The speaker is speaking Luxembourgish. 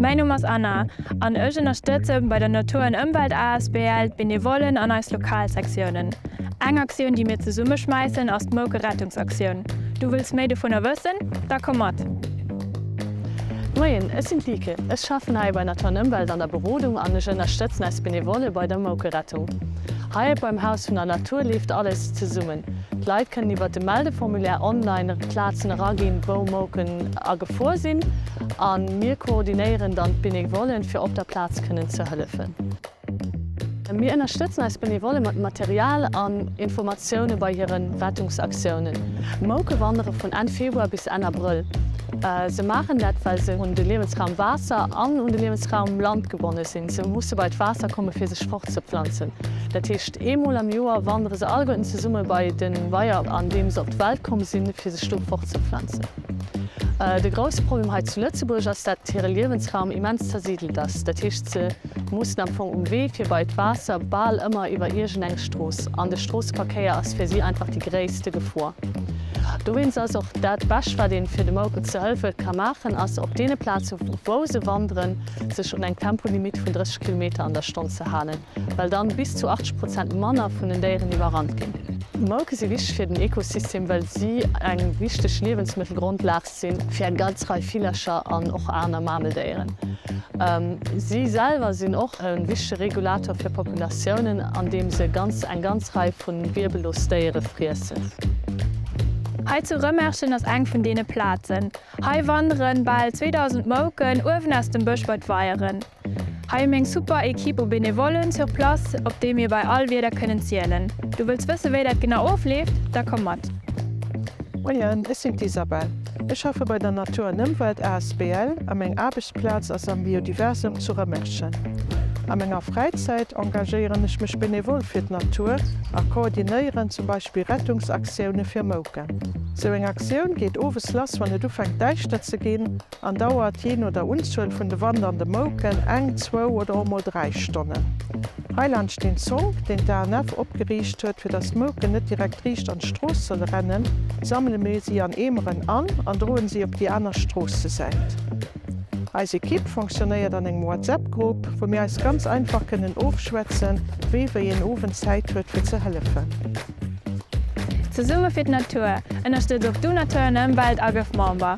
Mäin Numm ass Anna an ech ënnerstëtze bei der Natur an Ëmwelt asbl d'Benevollen an eis Lokalsektiounen. Eng Aktioun déi mir zesumme schmäissen ass d'Moukerettungsaktioun. Du wëlls méi dovunner wëssen? Da komm mat! Moien, ech sinn d'Lieke. Ech schaffen hei bei Natur an Ëmwelt an der Berodung an ech ënnerstëtzen eis Benevolle bei der Moukerettung. Hei beim Haus vun der Natur leeft alles zesummen. D'Leit kënnen iwwer de Meldeformulaire online op d'Plazen eraginn, wou Mouken agefuer sinn, a mir koordinéieren dann d'Benevollen, fir op der Plaz kënnen ze hëllefen. Mir ënnerstëtzen eis Benevolle mat Material an Informatioune bei hire Rettungsaktiounen. Mouke wandere vun Enn Februar bis Enn Abrëll. Se maachen dat, well se un de Liewensraum Waasser an un de Liewensraum Land gebonne sinn. Se musse bei d'Waasser kommen, fir sech fortzeplanzen, dat heescht, Eemol am Joer wandere se alleguerten zesumme bei de Weier, an deem se op d'Welt komm sinn, fir sech do fortzepflanzen. De grousse Problem hei zu Lëtzebuerg ass, dat hire Liewensraum immens zersidelt ass. Dat heescht, se mussen am Fong um Wee fir bei d'Waasser bal ëmmer iwwer iergend eng Strooss, an de Stroosseverkéier ass fir si einfach déi gréisste Gefor. Dowéinst ass och dat Bescht, wat ee fir de Mouken ze hëlfe ka maachen, ass op deene Plaze wou se wanderen, sech un eng Tempolimitt vun 30 Kilometer an der Stonn ze halen. well dann bis zu 80 Prozent manner vun den Déieren iwwerrannt ginn. D'Mouke si wichteg fir den Ekosystem, well si eng wichteg Liewensmëttelgrondlag sinn fir eng ganz Rei Villercher an och aner Mameldéieren. Si selwer sinn och e wichtege Regulator fir Populatiounen, andeem se ganz eng ganz Rei vu wierbellos Déiere friessen. Hei zu Rëmerschen ass eng vun deene Plazen. Hei wanderen bal 2000 Mouken uewen aus dem Bësch bei d'Weieren. Hei hu mir eng super Equipe u Benevollen sur place, op déi mir bei all Wieder kënnen zielen. Du wëlls wësse wéi dat genau ofleeft? Da komm mat! Moien, ech sinn d'Isabelle. Ech schaffe bei der Natur an Ëmwelt asbl a meng Aarbechtsplaz ass am Biodiversum zu Rëmerschen. A menger Fräizäit engagéieren ech mech benevol fir d'Natur a koordinéieren zum Beispill Rettungsaktioune fir Mouken. Sou eng Aktioun geet owes lass wann et ufänkt däischter ze ginn. an dauert, jee no der Unzuel vun de Wand an de Mouken, eng, zwou oder och mol dräi Stonnen. Heiland steet en Zonk, deen d'ANF opgeriicht huet. Fir datt d'Mouken net direkt riicht an d'Strooss solle rennen, sammele mir si an Eemeren an an droen si op déi aner Stroossesäit. Eis Ekipp fonctionnéiert an engem WhatsApp-Grupp, wou mir eis ganz einfach kënnen ofschwätzen, wee wéi een Owend Zäit huet fir ze hëllefen. Zesumme fir d'Natur, Ënnerstëtz och du Natur an Ëmwelt a gëff Member!